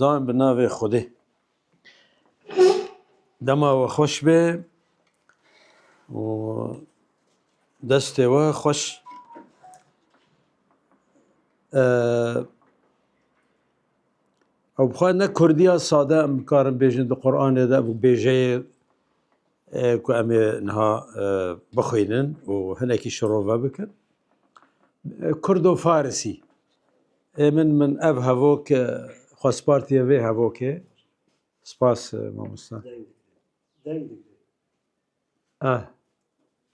Dan bi navê Xwedê. Dema we xweş be û destê we xweş ew bixwe ne Kurdiya sade em bikarin bêjin di Qur'anê de bu bêjeyê ku em ê niha bixwînin û hinekî şirove bikin. Kurdo Farisî. Hêmin min ev hevok xwe spartiye vê hevokê. Spas mamosta. Ah,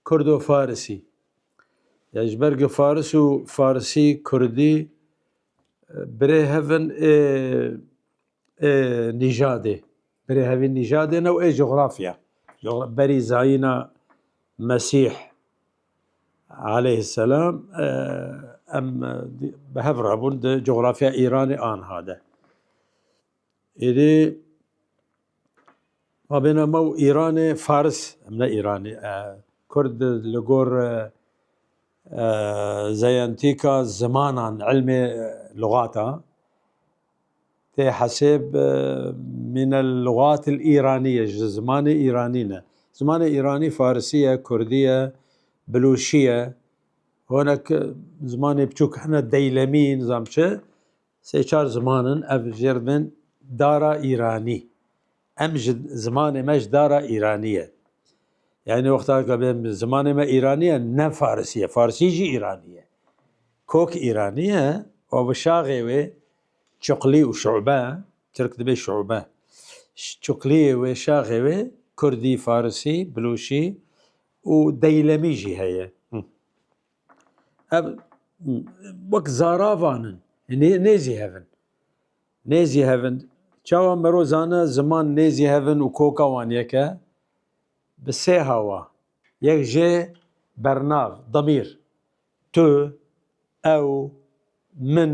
Kurdo Farisî. Ya ji ber ku Faris û Farisî, Kurdî e, birê hevin ê ê nîjadê. Birê hevî nîjadê ne û ê coğrafya. Coğra- Berî zayîna Mesîh Aleyh selam em bi hev re bûn di coxrafya Îranê anha de. Êdî ma bêne me û Îranê Faris em ne Îranî Kurd li gor zeyentîka zimanan elmê lugata Tê hesêb minel lugatil îranîye ji zimanê îranî ne. Zimanê îranî farisî ye, kurdî ye, bilûşî ye. Honek zimanê biçûk hene deylemî nizam çi. Sê çar ziman in ev jê re dibin dara îranî. Em ji zimanê me ji dara Îranî ye. Yanî wexta ka bê zimanê me Îranî ye ne Farisî ye. Farisî jî Îranî ye. Kok Îranî ye û bi şaxê wê çuklî û şûbe, Tirk dibê şûbe. Çukliyê wê, şaxê wê Kurdî, Farisî, Bilûşî û Deylemî jî heye. Ev wek zaravan in. Nê nêzî hev in. Nêzî Hevind, Çawa mero zana ziman nêzî hevin û koka wan yek e? Bi sê hawa, yek jê bernav, demîr, tu, ew, min,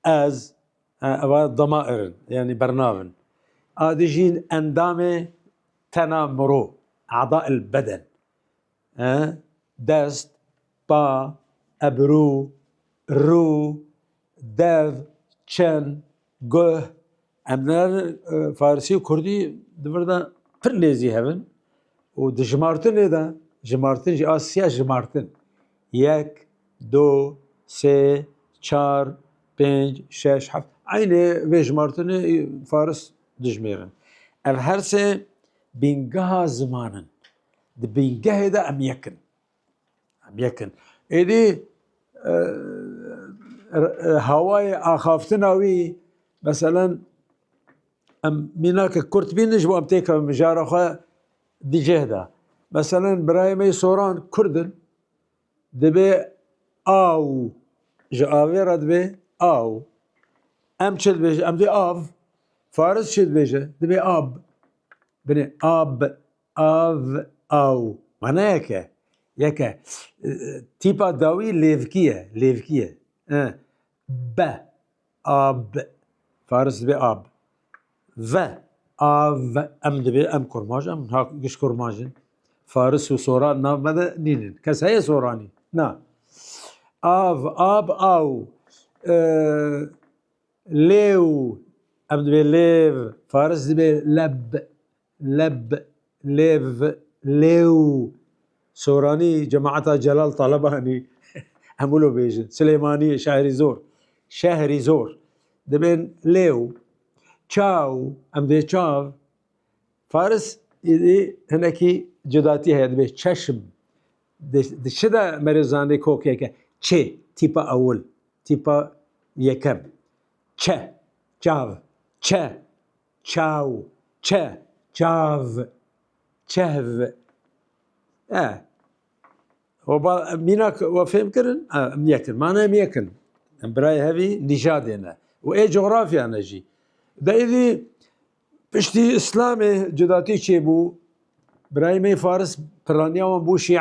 ez, ewa demair in, yanî bernav in. A dijî endamê tena mero, a'da'il beden, dest, pa, ebirû, rû, dev, çen, guh, em ne farsî û kurdî di vir de pir nêzî hev in û di jimartinê de jimartin jî a siya jimartin yek, do, sê, çar, pênc, şeş, heft eynê vê jimartinê faris dijimêrin. Ev her sê bîngeha ziman in. Di bingehê de em yek in. Em yek in. Êdî hawayê axaftina wî meselen em mînake kurt bîn ji wan têkevin mijara xwe di cih de. Meselen birayê me soran kurdin divê aw ji avê re divê aw. Em çi dibêjin? Em dê av. Faris çi dibêje? Divê ab. Binê ab Av, aw, manayek e. Yek e. Tîpa dawî lêvkî ye, lêvkî ye. Be, ab, faris dibê ab. Ve, av, em dibê em kurmac, em ha giş kurmac in. Faris û soran nav me de nînin. Kes heye soranî? Na. Av, ab, aw. Lêw, em dibê lêv, faris dibê leb, leb, lêv, lêw, soranî cemaeta Celal Talebanî em wilo bêjin, Silêmaniyê Şehrîzor, Şehrîzor, dibên lêw, çaw, em dê çav, Faris îdî hinekî cudatî heye dibê çeşm, di çi de merê zanî kokeke çê, tîpa ewil, tîpa yekem, çe, çav, çe, Çaw, çe, çav, çehv. E. O ba mîna we fêm kirin? E, em niye kirin. Mane em yek in. Em birayê hevî nîjadê ne. Û ê coğrafya ne jî. De êdî piştî İslamê cudatî çêbû. Birayê me Faris piraniya wan bû Şîe.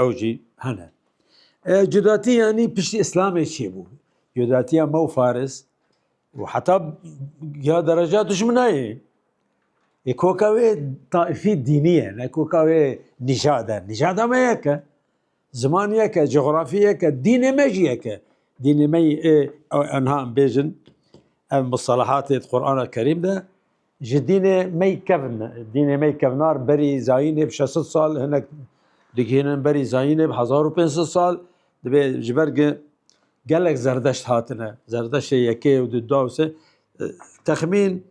ew jî hene. Cudatî yanî piştî Îslamê çê bû. Cudatiya me û Faris û heta ya dereja dijminayê. Ê koka wê taifî dînî ye, ne koka wê nîjad e. Nîjada me yeke. Ziman yeke, coğrafî yeke, dînê me jî yeke. Dînê me ê enha em bêjin ev mustalahatê di Qur'ana Kerîm de Ji dînê mey kevn dînê mey kevnar berî zayînê bi şesit sal hinek digihînin berî zayînê bi hezar û pênc sed sal dibê ji ber ki gelek zerdeşt hatine zerdeşê yekê û du da se texmîn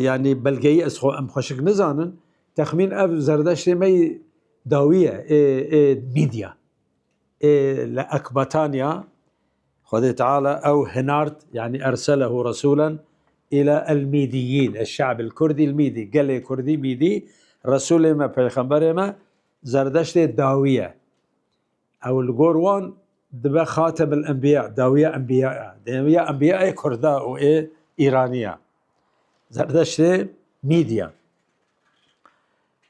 yanî belgeyî ez xwe em xweşik nizanin texmîn ev zerdeştê mey dawî ye ê ê mîdya ê li Ekbataniya Xwedê Teala ew hinard yanî erselehu resûlen îlâ el-mîdîyîn, eş-şe'bil kurdî el-mîdî, gelê kurdî mîdî, Resûlê me, peyxemberê me zerdeştê dawî ye. Ew li gor wan dibe xatemil enbîya, dawiya enbîya ya. Dawiya enbîya ê kurd e û ê îranî ya. Zerdeştê mîd ya.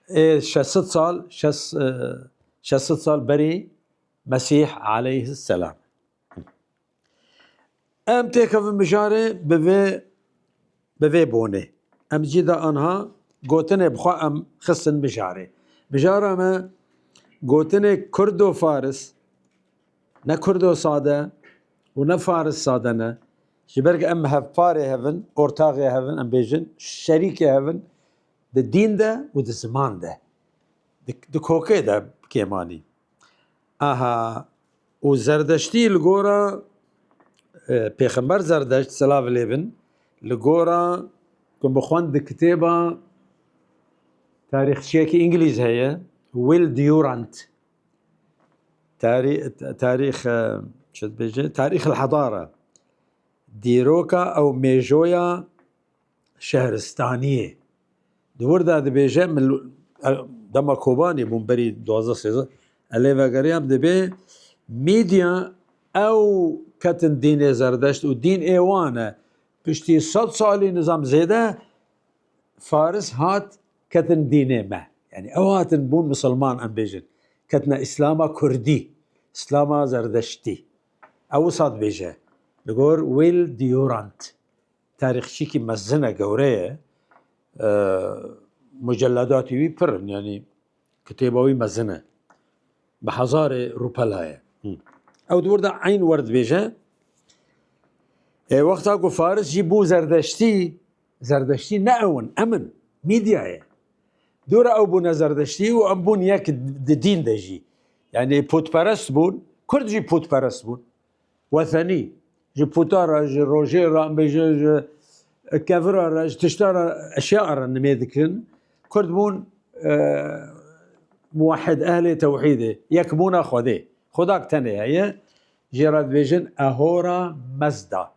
Ê şesit sal, şesit sal berî Mesîh aleyhisselam. Em têkevin mijarê bi vê bi vê bonê. Em cî de anha gotinê bi xwe em xistin mijarê. Mijara me gotinê kurdo faris ne kurdo sade û ne faris sade ne. Ji ber ku em hevparê hevin, ortaxê hevin em bêjin, şerîkê hevin di dîn de û di ziman de. Di kokê de kêmanî. Aha û Zerdeştî li gora Pêxember Zerdeşt silav lê bin li gora Min bi xwend di kitêba tarîxçiyekî îngilîz heye Will Durant tarîx çi dibêje tarîxil hedara dîroka ew mêjoya şehristaniyê. Di wir de dibêje dema Kobanê bûm berî duwazdeh sêzdeh ez lê vegeriyam dibê mîdya ew ketin dînê zerdeşt û dîn ê wan e. Piştî sed salî nizam zêde Faris hat ketin dînê me. Yani ew hatin bûn misilman em bêjin. Ketina îslama kurdî, îslama zerdeştî. Ew wisa dibêje. Li gor Will Durant. Tarîxçîkî mezin e, gewre ye. Muceledatî wî pir in, yanî kitêba wî mezin e. Bi hezarê rûpela ye. Ew di wir de eyn wer dibêje. Ê wexta ku Faris jî bû zerdeştî, zerdeştî ne ew in, em in, mîdya ye. Dûra ew bûne zerdeştî û em bûn yek di dîn de jî. Yani putperest bûn, Kurd jî putperest bûn. Wesenî, ji puta re, ji rojê re, em bêjin ji kevira re, ji tişta re, eşya re nimê dikin. Kurd bûn muwehid, ehlê tewhîdê, yekbûna Xwedê. Xwedak tenê heye, jê re dibêjin Ahora Mezda.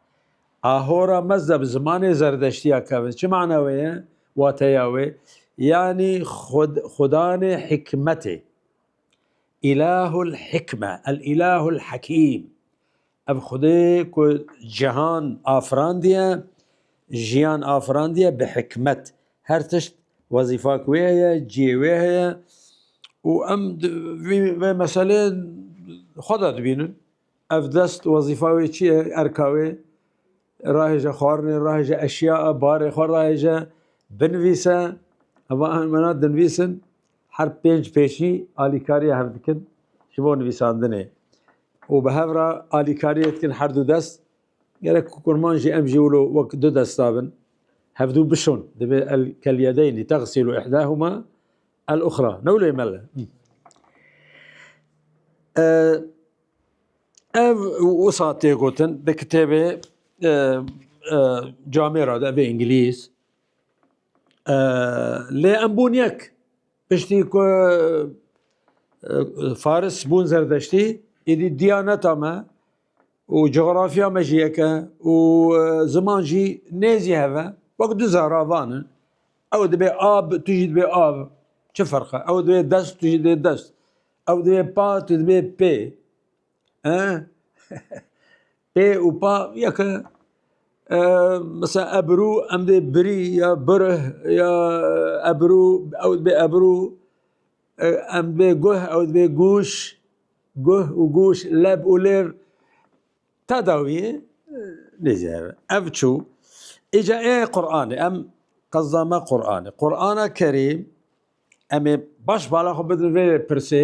Ahora Mezda bi zimanê zerdeştiya keve. Çi mana wê ye? Wateya wê, yanî Xwedanê hikmetê. Îlahul hikme el îlahul hekîm Ev Xwedê ku cihan afirandiye, jiyan afirandiye bi hikmet. Her tişt wezîfa ki wê heye, cihê wê heye û em di vî vê meselê xwe de dibînin. Ev dest wezîfa wê çi ye, erka wê? Rahêje xwarinê, rahêje eşya, barê xwe rahêje, binivîse. Heva hemû mena dinivîsin. Her pênc pêşî alîkariya hev dikin ji bo nivîsandinê û bi hev re alîkariyê dikin her du dest. Gerek ku kurman jî em jî wilo wek du desta bin. Hevdu bişon. Divê el kel yedeynî tegsîlu ihdahuma el uxra. Ne wilo mele. Ev wisa tê gotin di kitêbê camê re de vê îngilîz Lê em bûn yek. Piştî ku Faris bûn Zerdeştî êdî diyaneta me û coxrafiya me jî yek e û ziman jî nê zî hev e. Wek du zara van in. Ew dibe ab tu jî dibê av. Çi ferq e? Ew dibe dest tu jî dibê dest. Ew dibe pa tu dibê pê. Pê û pa ya ke mesela ebru em dê biri ya birih ya ebru ew dibê ebru em dibê guh ew dibê guş guh û guş leb û lêr tedawiyê nêzî hebe. Ev çû îca ê Quranê em qezda me Quranê. Qurana Kerîm em ê baş bala xwe bidin vê pirsê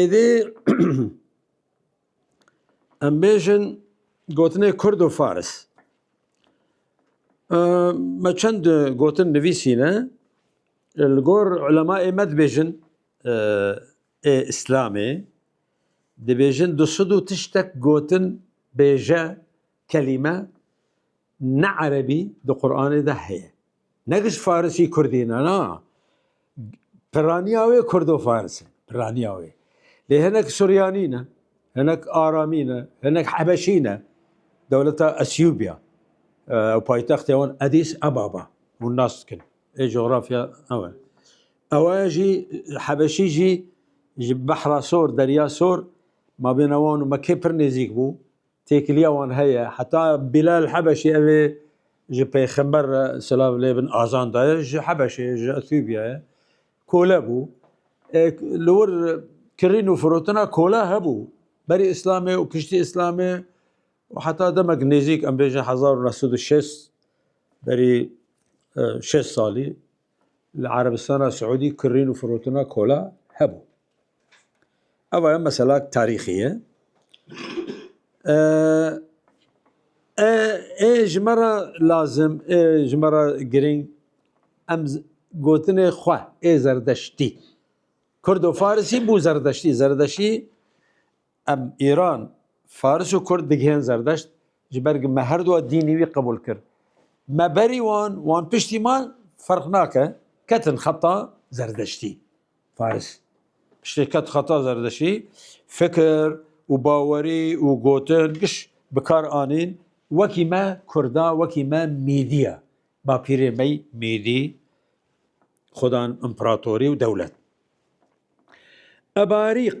Êdî em bêjin gotinê kurd û faris. Me çend gotin nivîsîne li gor ulemayê me dibêjin ê îslamê dibêjin du sid û tiştek gotin bêje Kelîme ne erebî di Quranê de heye. Ne giş farisî kurdî ne na. Piraniya wê kurdo-faris e. Piraniya wê. Lê hinek suryanî ne. Hinek aramî ne. Hinek hebeşî ne. Dewleta Esyûbya. Ew paytextê wan Edîs Ebaba. Hûn nas dikin. Ê coğrafya ew e. Ew e jî hebeşî jî ji behra sor, derya sor mabêna wan û Mekê pir nêzîk bû. Têkiliya wan heye. Heta Bilal Hebeşî ev ê ji pêxember re silav lê bin azan daye ji Hebeşê ye, ji Ethîopya ye. Kole bû. Li wir kirîn û firotina kola hebû. Berî îslamê û piştî îslamê û heta demek nêzîk em bêjin hezar û neh sed û şêst berî şêst salî. Li Erebistana Siûdî kirîn û firotina kola hebû. Eva ye mesela tarîxî ye. Ê ji me re lazim, ê ji me re girîng em gotinê xwe ê zerdeştî. Kurdo-farisî bû zerdeştî. Zerdeştî Em Îran, Faris û Kurd digihên Zerdeşt, ji ber ku me her duwa dînî wî qebûl kir. Me berî wan, wan piştî me ferq nake, ketin xeta Zerdeştî. Faris, piştî ket xeta Zerdeştî, fikir û bawerî û gotin, giş bi kar anîn, wekî me Kurda, wekî me Mîdî ye. Bapîrê me Mîdî, xwedan împeratorî û dewlet. Ebarîq.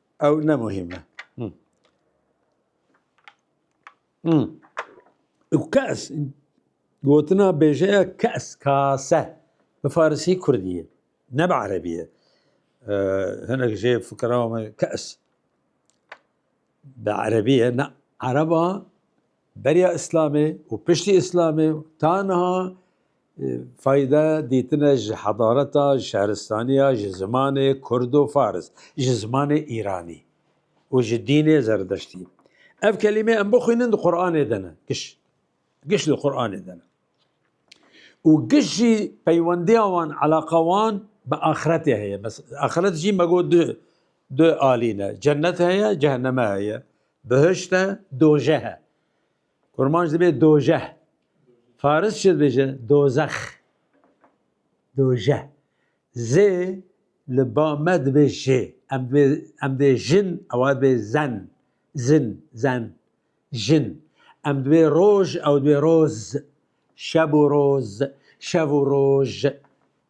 Ew ne muhîm e. Û kes gotina bêjeya kes kase bi farisî kurdî ye ne bi erebî ye. Hinek jê fikira me kes bi erebî ye ne ereba Beriya Îslamê û piştî Îslamê taniha fayde dîtine ji hedareta, ji şehristaniya, ji zimanê kurd û faris, ji zimanê îranî û ji dînê zerdeştî. Ev kelîmê em bixwînin di Quranê de ne. Giş. Giş di Quranê de ne. û giş jî peywendiya wan eleqa wan bi axiretê heye. Axiret jî me got du du alî ne. Cennet heye, ceheneme heye. Bihişt e, dojeh e. Kurmanc dibê dojeh. Faris çi dibêje? Dozex. Dojeh. Zê li ba me dibê jê. Em dibê em dê jin ewa dibê zen. Zin, zen. Jin. Em dibê roj ew dibê roz. Şeb û roz, şev û roj.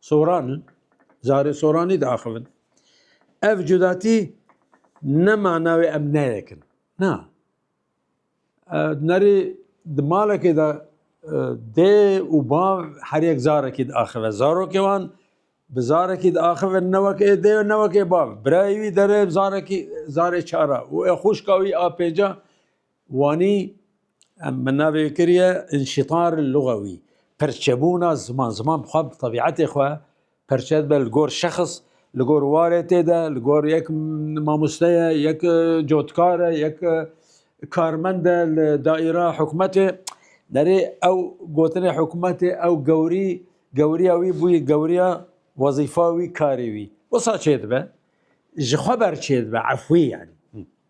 Soran in, carê soranî diaxivin. Ev cudatî ne mana wê em neyekin. Na. Nerî di malekê de dê û bav her yek carekî diaxive. Zarokê wan bi zarekî diaxive ne wek ê dê ne wek ê bav. Birayê wî derê zarekî zarê çar a û ê xwişka wî a pênc a Wanî em min navê kiriye înşîtar lugewî, perçebûna ziman. Ziman bi xwe bi tebîetê xwe perçe dibe li gor şexs, li gor warê tê de, li gor yek mamoste ye, yek cotkar e, yek karmend e li daîra hikûmetê. Derê ew gotinê hikûmetê ew gewrî gewriya wî bûye gewriya wezîfa wî karê wî. Wisa çêdibe? Ji xwe ber çêdibe efwî yanî.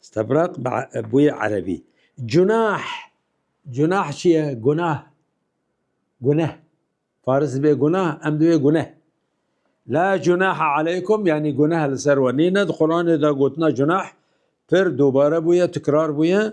Stebrak bûye erebî. Cunah, cunah çi ye? Gunah, guneh. Faris dibê gunah, em dibê guneh. La cunaha aleykum yanî guneh li ser we nîne. Di Quranê de gotina cunah pir dubare bûye, tikrar bûye.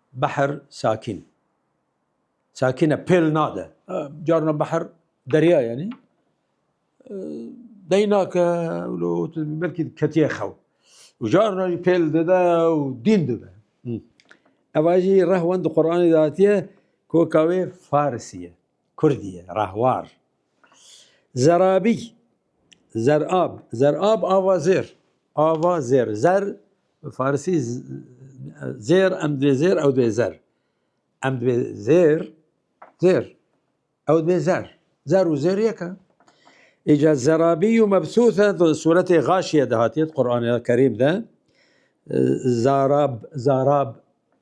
Behr sakîn sakîn e pêl nade. Carna behr derya ye nî deyna ke lo belkî ketiye xew û carna jî pêl dide û dîn dibe. Eva jî rehwend di Quranê de hatiye koka wê farisî ye, kurdî ye, rehwar. Zerabî, zerab, zerab ava zêr, ava zêr, zer Bi farisî zêr em dibê zêr ew dibê zer. Em dibê zêr zêr ew dibê zer. Zer û zêr yek e. Îca zerabî û mebsûse di suretê Gaşiye de hatiye di Qur'anê Kerîm de zarab zarab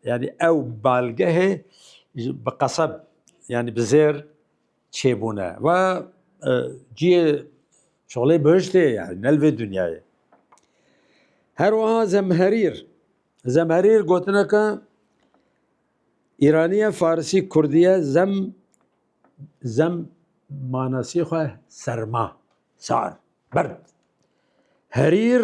yani ew balgehê bi qeseb yani bi zêr çêbûne ve ciyê şolê bihiştê yani nel vê dinyayê. Her wiha zemherîr zemherîr gotineke îraniye farisî kurdiye zem zem manasî xwe serma sar berd herîr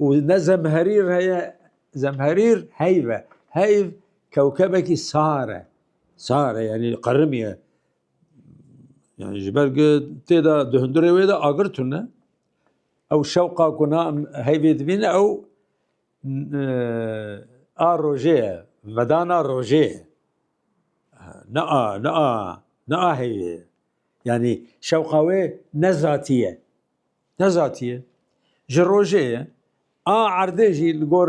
û ne zemherîr heye zemherîr heyv e heyv kewkebekî sar e sar e yanî qerimî ye yani ji ber ku tê de di hundirê wê de agir tune ew şewqa ku na heyvê dibîne ew a rojê ye vedana rojê ye ne a ne a ne a heyvê ye yanî şewqa wê ne zatî ye Ne zatiye. Ji rojê ye. A erdê jî li gor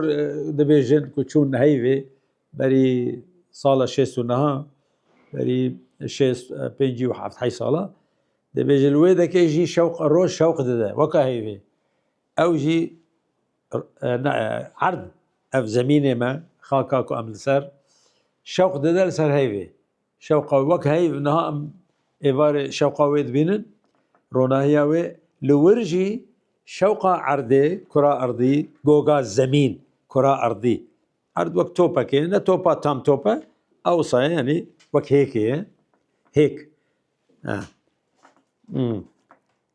dibêjin ku çûn heyvê berî sala şêst û niha berî şêst pêncî û heft hey sala dibêje li wê dekê jî şewq roj şewq dide weka heyvê. Ew jî erd ev zemînê me xaka ku em li ser şewq dide li ser heyvê. Şewqa wek hey û niha em êvarê şewqa wê dibînin, ronahiya wê. Li wir jî şewqa erdê, kura erdî, goga zemîn, kura erdî. Erd wek topekê ye, ne topa tam top e, a wisa ye yanî wek hêkê ye. Hêk.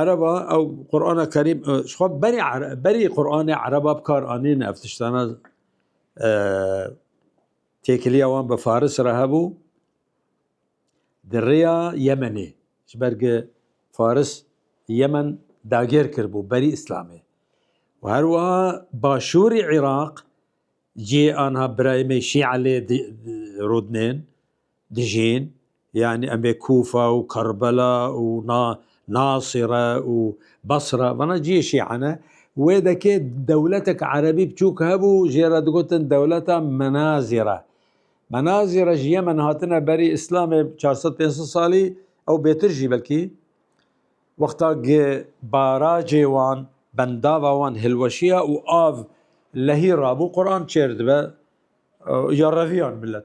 Ereba ew Qur'ana Kerîm ji xwe berî berî Qur'anê Ereba bi kar anîn ev tiştana têkiliya wan bi Faris re hebû di rêya Yemenê ji ber ku Faris Yemen dagir kiribû berî Îslamê û her wiha başûrî Iraq cihê anha birayê me Şî'e lê rûdinên Dijîn, yanî em ê Kûfa û Kerbela û Nasire û Basre, vana ciyê Şîa ne, wê dekê dewletek erebî biçûk hebû jê re digotin dewleta Menazire. Menazire ji Yemen hatine berî Îslamê çar sed pênc sed salî ew bêtir jî belkî. Wexta gi barajê wan, bendava wan hilweşiya û av lehî rabû Quran çêr dibe ya reviyan milet.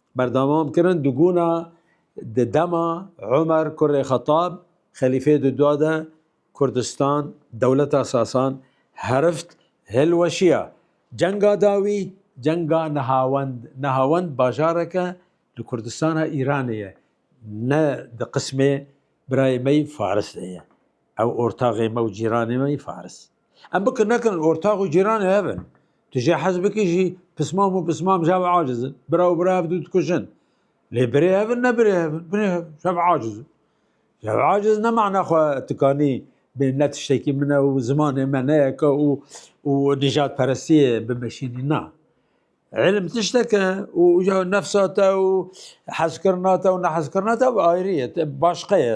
Berdewam kirin di guna di dema Umer kurê Xetab xelîfê di dua de Kurdistan dewleta Sasan herift hilweşiya. Cenga dawî cenga Nehawend. Nehawend bajareke li Kurdistana Îranê ye. Ne di qismê birayê me yî Faris de ye. Ew ortaxê me û cîranê me yî Faris. Em bikin nekin ortax û cîranê hev in. Tu jê hez bikî jî pismam û pismam ji hev aciz in. Bira û bira hev dû dikujin. Lê birê hev in ne birê hev in. Birê hev ji hev aciz in. Ji hev aciz ne mana xwe tikanî bê ne tiştekî min e û zimanê me ne yeke û û nîjadperestiyê bimeşînî na. Îlim tiştek e û nefsa te û hezkirina te û nehezkirina te ev ayrî ye, te başqe ye.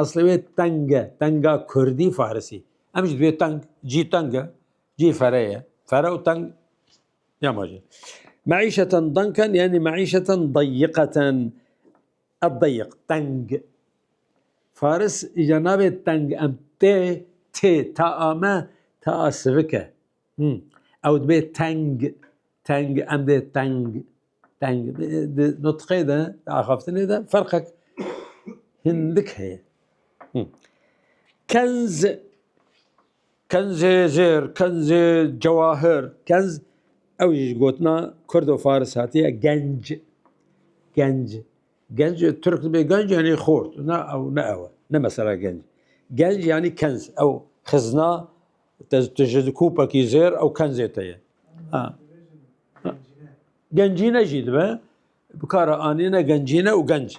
Eslê wê teng e, tenga kurdî farisî. Em jî divê teng, cî teng e, cî fere ye. Fere û teng ya ma jî. Meîşeten danken yani meîşeten dayiqeten. Ed dayik, teng. Faris îca nabê teng em tê, tê, ta ame, ta a sivik e. Hmm. Ew dibê teng, teng, em dê teng, teng. Di nutqê de, di axaftinê de ferqek hindik heye. Hmm. Kenz, kenzê zêr, kenzê cewahir, kenz, ew jî ji gotina kurd û faris hatiye genc, genc. Genc, Türk dibê genc yanî xort. Na ew ne ew e. Ne mesela genc. Genc yanî kenz. Ew xizna Te ji dikûpekî zêr ew kenzê te ye. Gencîne jî dibe bikara anîne gencîne û genc.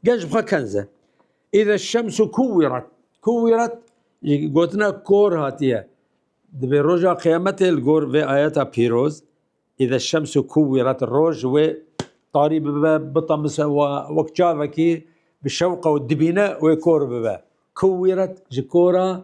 Genc bixwe kenz e. Îde şems û kuwîrat. Kuwîrat gotina kor hatiye. Dibê roja qeyametê li gor vê ayeta pîroz îde şems û kuwîrat roj wê tarî bibe bitamise wek çavekî bi şewqa û dibîne wê kor bibe. Kuwîrat ji kora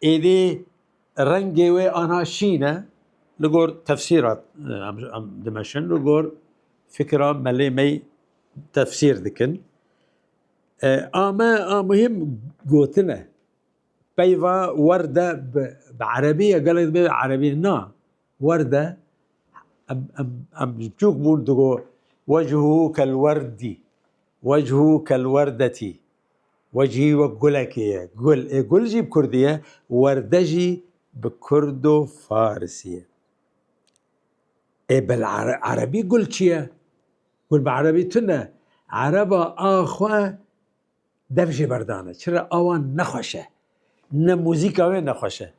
Êdî rengê wê ana şîn e li gor tefsîra em dimeşin li gor fikira melê me tefsîr dikin. A me a muhîm gotin e. Peyva werde bi erebî ye gelek bê erebî na werde em ji çûk bûn digo wecihû kel werdî wecihû kel werdetî. We jî wek gulekê ye. Gul ê gul jî bi kurdî ye, werde jî bi kurdo farisî ye. Ê bil erebî gul çi ye? Gul bi erebî tune. Ereba a xwe dev jê berdane. Çi re awa nexweş e. Ne muzîka wê nexweş e.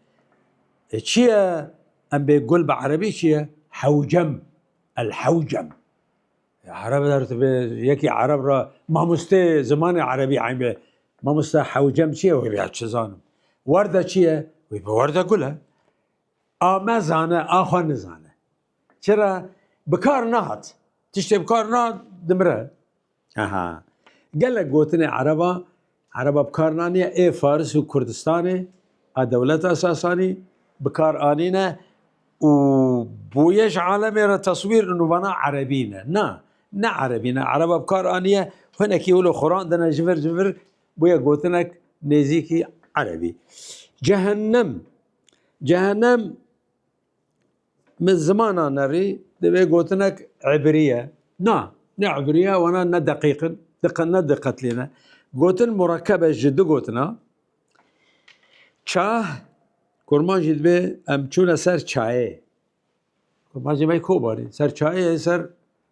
E çi ye em bê gul bi erebî çi ye? Hewcem. El hewcem. Ereb der dibe yekî ereb ra mamostê zimanê erebî eybe. Mamosta hewcem çi ye wê ya çi zanim. Werde çi ye? Wê bi werde gul e. A me zane a xwe nizane. Çira bi kar nehat. Tiştê bi kar nehat dimire. Aha. Gelek gotinê ereba Ereba bi kar naniye ê Faris û Kurdistanê a dewleta Sasanî bi kar anîne û boye ji alemê re teswîr û nûvana Erebî ne. Na, ne Erebî ne. Ereba bi kar anîye hinekî wilo xurandine ji vir ji vir bûye gotinek nêzîkî Erebî. Cehennem, Cehennem Min zimana nerî divê gotinek ebrî ye. Na, ne ebrî ye wana ne deqîq in, ne diqetlî ne. Gotin murekkeb e ji du gotin a. Çah, kurman jî divê em çûne ser çayê. Kurman jî me kobarî. Ser çayê ser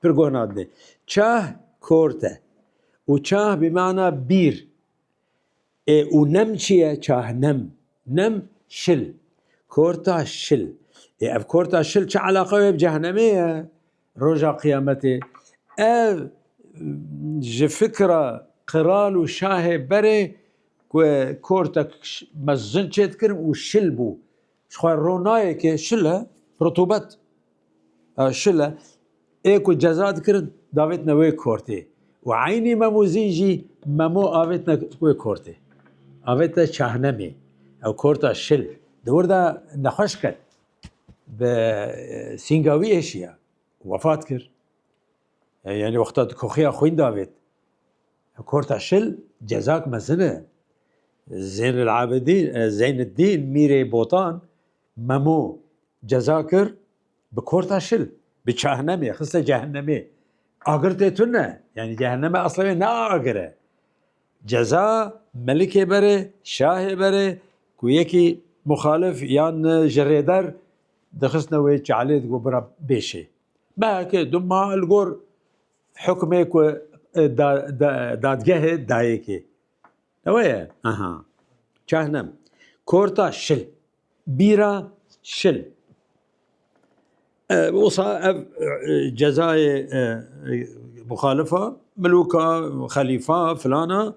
Pir guh nadine. Çah kort e û çah bi mana bîr ê û nem çi ye çah nem. Nem şil. Korta şil. Ê ev korta şil çi eleqa wê bi cehnemê ye roja qiyametê. Ev ji fikra qiral û şahê berê ku kortek mezin çêdikirin û şil bû. Ji xwe ro nayê ke şile rutubet şile ê ku ceza dikirin davêtine wê kortê û eynî memûzî jî memo avêtine wê kortê. Avêtine çahnemê ew korta şil di wir de nexweş ket bi sînga wî êşiya wefat kir. Yanî wexta di koxîya xwîn de avêt. Korta şil cezak mezin e. Zênilabidîn Zeyniddîn Mîrê Botan Memo ceza kir bi korta şil, bi çahnemê, xiste cehennemê. Agir tê tune, yanî cehenneme esla wê ne agir e. Ceza melikê bere, şahê bere ku yekî muxalif yan ji rêber dixistine wê çalê digot bira bêşê. Belkê du mal li gor hukmê ku dadgehê dayêkê. Ewe ye aha. Çahnem. Korta şil. Bîra şil. Osa ev cezayê muxalifa, milûka, xelîfa filana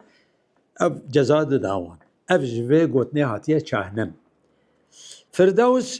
ev ceza dida wan. Ev ji vê gotinê hatiye çahnem. Firdews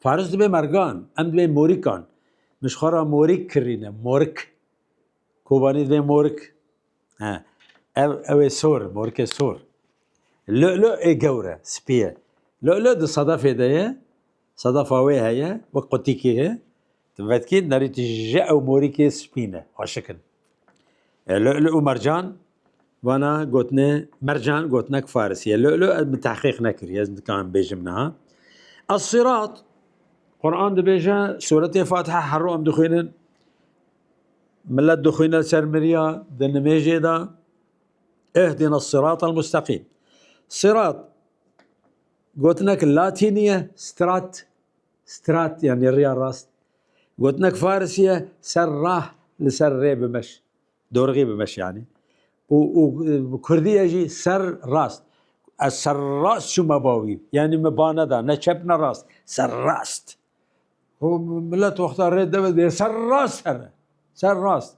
Faris dibe mergan, em dibe morîkan. Min ji xwe re morîk kirîne, morik. Kobanî dibe morik. He. Ev ew ê sor, morikê sor. Lü'lü ê gewr e, spî ye. Lü'lü di sedefê de ye, sedefa wê heye, wek qutîkê ye. Ti vetkî nerî ti ji ew morîkê spî ne, aşik in. Lu'lu' û mercan vana gotinê mercan gotinek farisî ye. Lu'lu' ez min tehqîq nekiriye, ez dikarim bêjim niha. Es-Sirat Quran dibêje suretê Fatiha herro em dixwînin. Millet dixwîne li ser miriya di nimêjê de Ihdina sirat el mustaqîm. Sirat gotinek latînî ye, strat Strat yanî riya rast. Gotinek farisî ye ser rah li ser rê bimeş. Dorgî bimeş yanî. Û û bi kurdî ye jî ser rast. Ez ser rast çûme bawî. Yanî min ba neda ne çep ne rast. Ser rast. Û milet wexta rê deve dê ser rast here. Ser rast.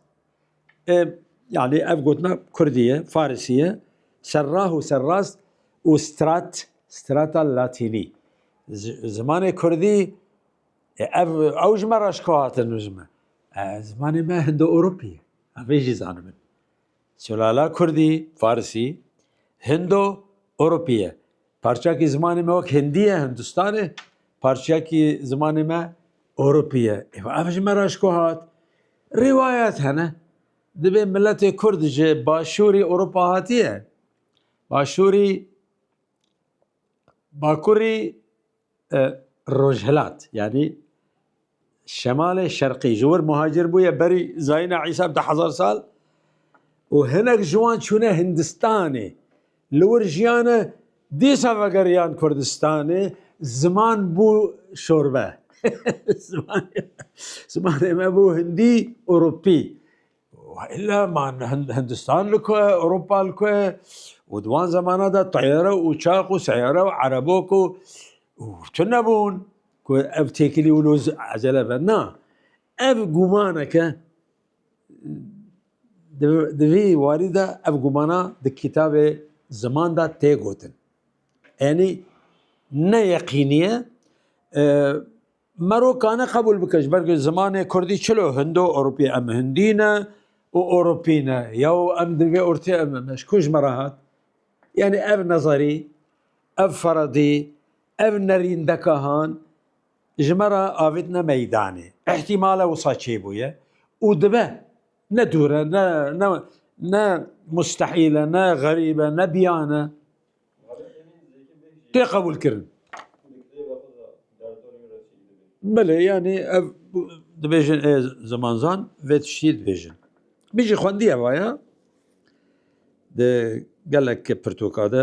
Yani ev gotina Kurdî ye, Farisî ye. Serrah û serrast û strat, strata latînî. Zimanê Kurdî ev ew ji me re şiko hatin ji me. Zimanê me Hindo-Ewropî ye. Ev vê jî zanin min. Sulala Kurdî, Farisî, Hindo, Ewropî ye. Parçeyekî zimanê me wek Hindî ye, Hindistanê, parçeyekî zimanê me Ewropî ye. Ev ji me re şiko hat. Rîwayet hene dibê miletê Kurd ji Başûrî Ewropa hatiye Başûrî Bakurî Rojhilat yanî Şemalê Şerqî ji wir muhacir bûye berî zayîna Îsa bi du hezar sal û hinek ji wan çûne Hindistanê. Li wir jiyane dîsa vegeriyan Kurdistanê, ziman bû şorbe. Zimanê me bû hindî û rûpî. Illa man Hindistan li ku ye, Ewropa li ku ye û di wan zemana de teyare û uçaq û seyare û erebok û tu nebûn ku ev têkilî wilo ezele be. Na, ev gûmaneke Di vî warî de ev gumana di kîtabê Ziman de tê gotin. Enî ne yeqînî ye. Merokane qebûl bike ji ber ku zimanê kurdî çilo hindo ewropî ye. Em hindî ne û ewropî ne ya û em di vê ortê em ne ji ku ji me re hat. Enî ev nezarî, ev feradî, ev nerîndekahan Ji me re avêtine meydanê. Îhtîmale wisa çêbûye û dibe. Ne dûr e, ne ne ne mustehîl e, ne xerîb e, ne biyan e. Tê qebûlkirin. Belê yanî ev dibêjin ê zimanzan vê tiştî dibêjin. Min jî xwendiye vaya di gelek pirtûka de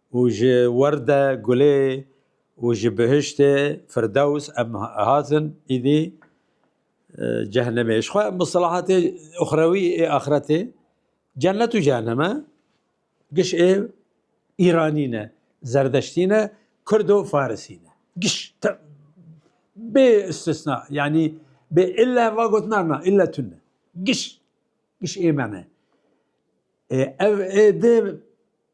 û ji werde gulê û ji bihiştê firdews em hatin îdî cehnemê. Ji xwe mislahatê uxrewî ê axretê cennet û cehenem e. Giş ê Îranî ne, Zerdeştî ne, Kurd û Farisî ne. Giş bê istisna yanî bê ille va gotinan na ille tune. Giş giş ê me ne. Ev ê dê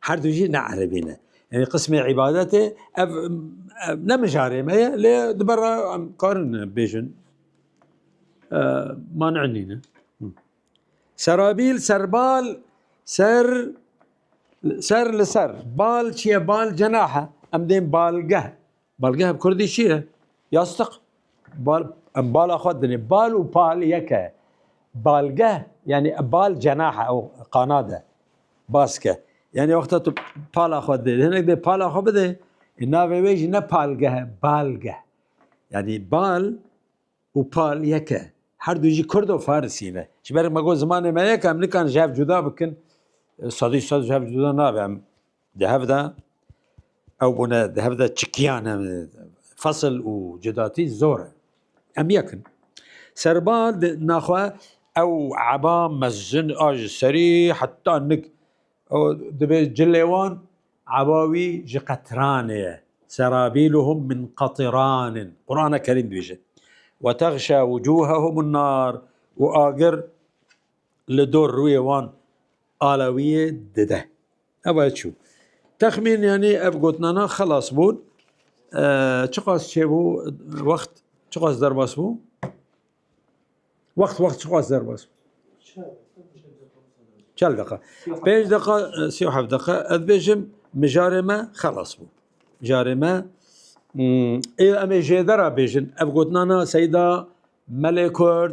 Her du jî ne erebî ne. Yanî qismê îbadetê ev ne mijarê me ye lê di ber re em karin bêjin man nîne. Serabîl serbal ser ser li ser bal çiye bal cenahe em dên balgeh. Balgeh bi kurdî çi ye? Yastik. Bal, em bala xwe dinê. Bal û pal yek e. Balgeh yanî bal cenahe ew qanad e. Baske. Yanî wexta tu pala xwe didê. Hinek dê pala xwe bidê. E navê wê jî ne palgeh e, balgeh. Yanî bal û pal yek e. Her du jî kurd û farisî ne. Ji ber me got zimanê me yek e, em nikan ji hev cuda bikin. Sedî sed ji hev cuda nabe em. Di hev de ew bûne di hev de çikiyan em fesil û cudatî zor e. Em yek in. Serba di naxwe ew eba mezin a ji serî heta nik ew dibê cilê wan eba wî ji qetranê ye. Serabîluhum min qetiranin. Qur'ana Kerîm dibêje. Ve texşa wucuhehum nar û agir li dor rûyê wan alawiyê dide. Eva ye çû. Texmîn yanî ev gotnana xelas bûn. Çiqas çêbû wext çiqas derbas bû? Wext wext çiqas derbas bû? Çel deqa. Pênc deqa sî û heft deqa ez bêjim mijarê me xelas bû. Mijarê me ê em ê jêdera bêjin ev gotnana Seyda Melê Kurd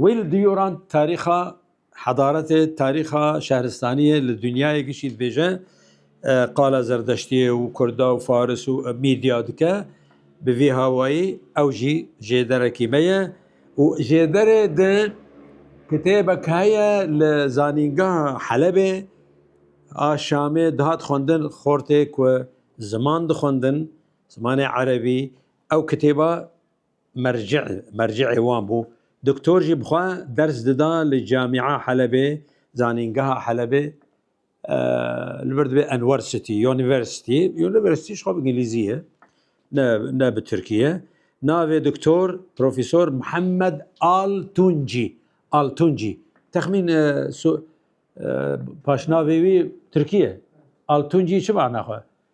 Wê li du yoran tarîxa hedaretê, tarîxa şehristaniyê li dinyayê gişî dibêje, qala zerdeştiyê û kurda û faris û mîdya dike. Bi vî hawayî ew jî jêderekî me ye û jêderê di kitêbek heye li zanîngeha Helebê a Şamê dihat xwendin xortê ku ziman dixwendin, zimanê erebî, ew kitêba mercî mercîê wan bû. Doktor jî bi xwe ders dida li Camîa Helebê, Zanîngeha Helebê, li vir dibê Enwersitî, University, University ji xwe bi Îngilîzî ye, ne ne bi Tirkî ye. Navê Doktor Profesor Mihemed Altuncî, Altuncî. Texmîn paşnavê wî Tirkî ye. Altuncî çi mana xwe?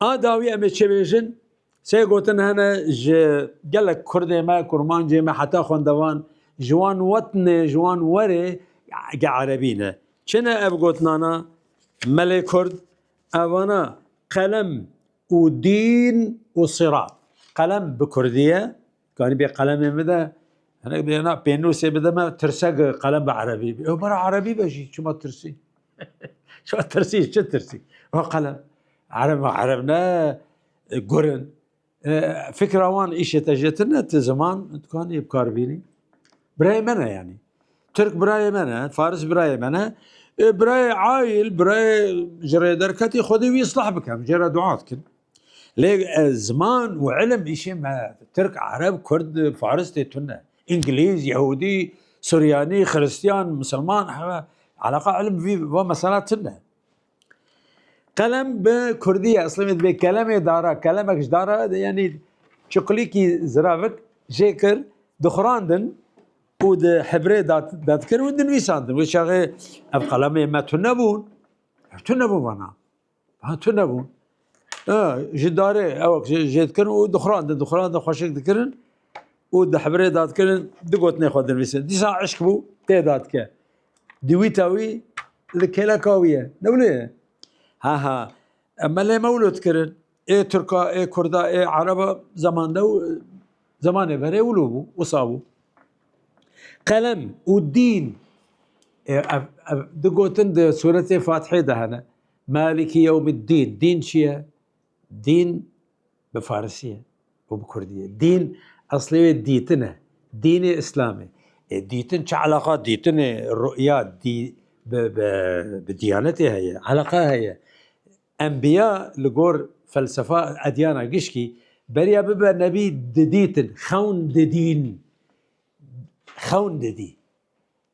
A dawî em ê çi bêjin? Sê gotin hene ji gelek kurdê me, kurmancê me heta xwendevan ji wan wetnê, ji wan werê ke erebî ne. Çi ne ev gotinana? Melê kurd evana qelem û dîn û sirat. Qelem bi kurdî ye. Karî bê qelemê min de hinek bêna pênûsê bide me tirsek qelem bi erebî bê. Ew bara erebî be jî çima tirsî? Çima tirsî çi tirsî? Wa qelem ereb ereb ne gurin. Fikra wan îşê te jêtin ne ti ziman dikanê bikar bînî. Birayê me ne yanî. Türk birayê me ne, Faris birayê me ne. Birayê ail, birayê ji rê derketî xwedê wî islah bikem, jê re dua dikin. Lê ziman û ilim îşê me tirk, ereb, kurd, faris tê tune. Îngilîz, yehûdî, suryanî, xiristyan, misilman hewa eleqa ilim vî va mesela tune. Qelem bi kurdî ye eslê me divê kelemê dara, kelemek ji dara yanî çuqulîkî ziravik jê kir dixurandin û di hebrê dadkirin û dinivîsandin. Wê çaxê ev qelemê me tune bûn, tune bûn vana. Ha tu nebûn. Ji darê ewek jê dikirin û dixurandin dixurandin xweşik dikirin û di hebirê da dikirin di gotinê xwe dinivîsin. Dîsa eşk bû tê da dike. Di wî ta wî li kêleka wî ye. Ne bilê ye. Ha ha me lê mewlo dikirin. Ê Turka, ê Kurda, ê Ereba zemanda û zemanê verê wilo bû, wisa bû. Qelem û dîn di gotin di suretê Fatihê de hene. Maliki yewmiddîn, dîn çi ye? Dîn bi farisî ye û bi kurdî ye. Dîn eslê wê dîtin e. Dînê îslam e. E dîtin çi eleqa dîtinê ru'ya dî bi bi bi dîyanetê heye? Eleqa heye. Enbîya li gor felsefa edyana gişkî beriya bibe nebî didîtin, xewn didîn. Xewn didî.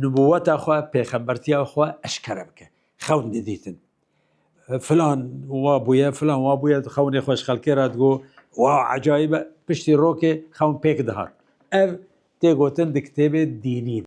Nubûweta xwe, pêxembertiya xwe eşkere bike. Xewn didîtin. Filan wa bûye, filan wa bûye, xewnê xwe ji xelkê re digo, wow ecayîb e. Piştî rokê xewn pêk dihat. Ev tê gotin di kitêbê dînî de.